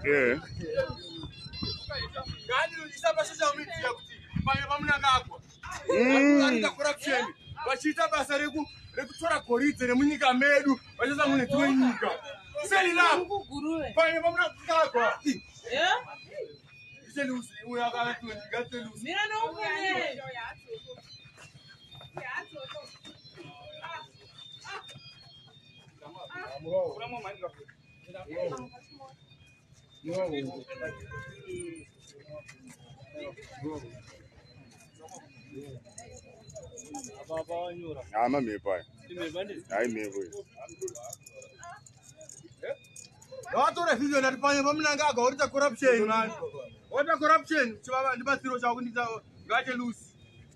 Yeah. Mm. vachiita basa rekutora goridhe remunyika medu vachiisa mune dzimwe nyika seinapaine vamunakagwa Ama mhepo aya. Hai mhepo iyi. Vatora video ndati panye pamunanga aga orita corruption man. Orita corruption chivava ndibatsiro chavo kundita ngache loose.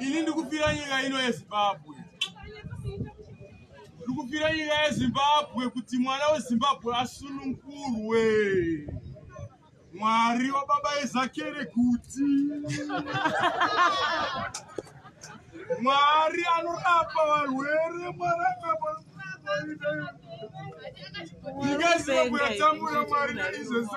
ini ndikufira nyika ino yezimbabwe ndikufira nyika yezimbabwe kuti mwana wezimbabwe asunungurwe mwari wababa ezakere kuti mwari anorapa varwere mwari anorapa ndingaziva kuyatambura mwari naizvezvo